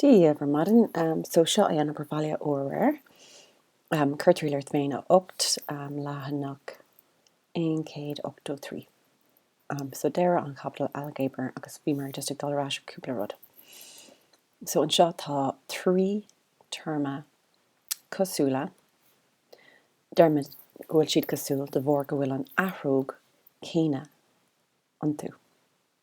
Dia bhur maidin. So seo é an obair bhaile aréir. Cur i dtreo Ardtéim 8 leathanach 183. So deireadh an chaibidil Ailgéabar agus bhíomar just ag dul ar ais ar cúpla rud. So anseo tá trí théarma cosúla, deirmid go bhfuil siad cosúil de bharr go bhfuil an athróg céanna iontu.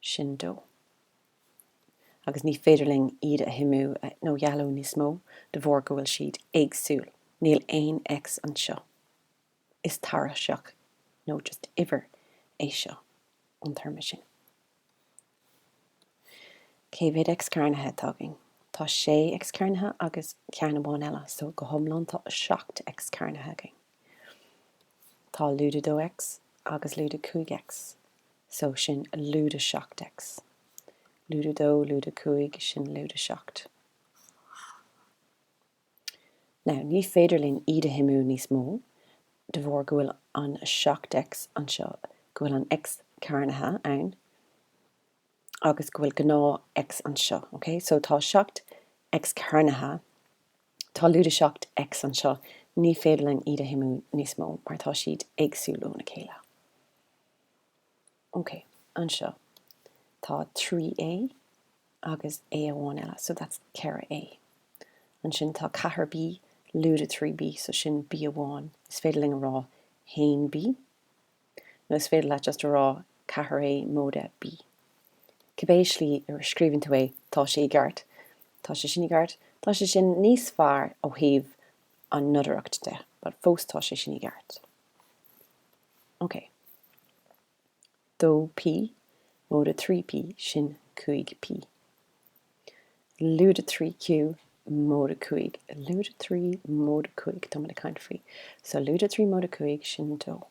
sin dó, agus ní féidir linn iad a shuimiú nó dhealú níos mó de bharr go bhfuil siad éagsúil, níl aon X anseo is tairiseach nó just uimhir é seo an téarma sin. Cé mhéad X cearnaithe atá againn? Tá sé X cearnaithe agus ceann amháin eile, so go hiomlán tá seacht X cearnaithe againn. Tá lúide dó X agus lúide cúig X so sin lúide 7 X, lúide 2, lúide 5, sin lúide 7. Now, ní féidir linn iad a shuimiú níos mó de bharr go bhfuil an 7 X anseo, go bhfuil an X cearnaithe ann agus go bhfuil gnáth X anseo, ok? So tá 7 X cearnaithe, tá lúide 7 X anseo, ní féidir linn iad a shuimiú níos mó mar tá siad éagsúil óna chéile. ok anseo tá 3A agus A amháin eile so that's 4A ansin tá 4B lúide 3B so sin B amháin is féidir linn a rá 1B nó is féidir leat just a rá 4A móide B cibé slí a scríobhann tú é tá sé i gceart tá sé sin i gceart tá sé sin níos fearr ó thaobh an nodaireacht de but fós tá sé sin i gceart. OK. Dó P, móide trí P, sin cúig P. Lúide trí Q, móide cúig, lúide trí, móide cúig, tá mé ag caint faoi. So lúide trí móide cúig, sin dó.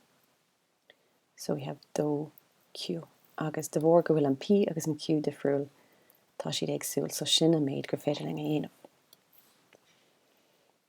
So we have dó Q. Agus de bharr go bhfuil an P agus an Q difriúil, tá siad éagsúil, so sin an méid gur féidir linn a dhéanamh.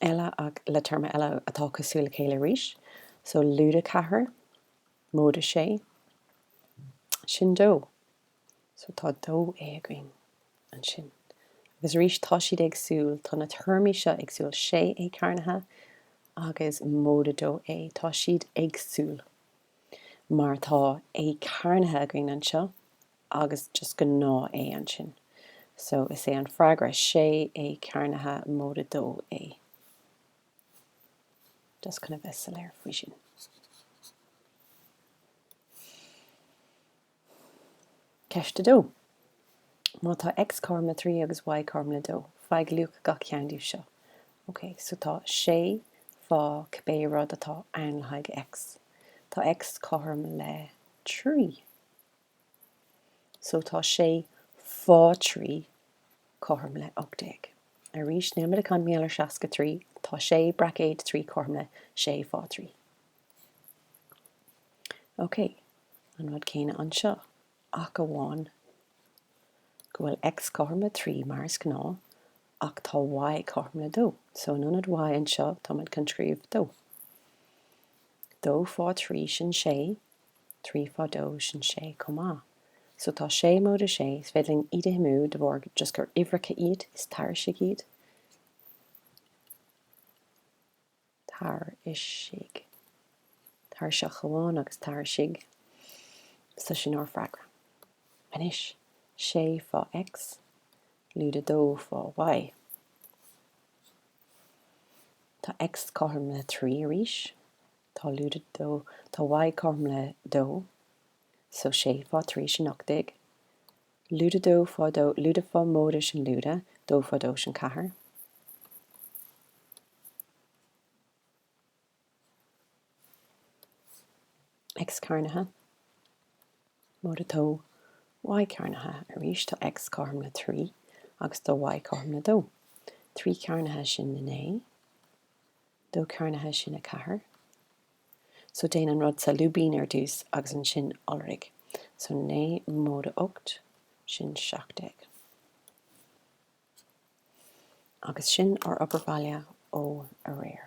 eile ach le téarma eile atá cosúil le chéile arís, so lúide ceathair, móide sé sin dó. So tá dó E againn ansin. Agus arís, tá siad éagsúil, tá na téarmaí seo éagsúil, sé E cearnaithe agus móide dó E, tá siad éagsúil, mar tá E cearnaithe againn anseo, agus just go ná é ansin. So is é an freagra, sé é cearnaithe móide dó é. Just chun a bheith soiléir faoi sin. Ceist a dó. Má tá X cothrom le trí agus Y cothrom le dó, faigh luach gach ceann díobh seo. Ok, so tá sé fá cibé rud atá ann le haghaidh X. Tá X cothrom le trí. so tá sé fá trí cothrom le ocht déag. Arís, nílimid ag caint maidir le seasca trí, tá sé braicéad trí cothrom le sé fá trí. Ok, an rud céanna anseo, ach amháin go bhfuil X cothrom le trí mar is gnáth, ach tá Y cothrom le dó, so in ionad Y anseo, táimid chun scríobh dó. Dó fá trí, sin sé. trí fá dó sin sé chomh maith. So tá sé móide sé, is féidir linn iad a shuimiú de bharr just gur uimhreacha iad, is tairisigh iad. Tairisigh. Tairiseach amháin agus tairisigh. So sin ár freagra. Anois, sé fá X, lúide dó fá Y. Tá X cothrom le trí arís. Tá lúide dó, tá Y cothrom le dó, so sé fá trí sin ocht déag. Lúide dó fá dó, lúide fá móide sin lúide dó fá dó sin ceathair. X cearnaithe, móide dó Y cearnaithe arís, tá X cothrom le trí agus tá Y cothrom le dó. Trí cearnaithe sin naoi. dó cearnaithe sin a ceathair. So déan an rud sa lúibín ar dtús agus ansin iolraigh. So naoi móide ocht, sin seacht déag. Agus sin ár obair bhaile ó aréir.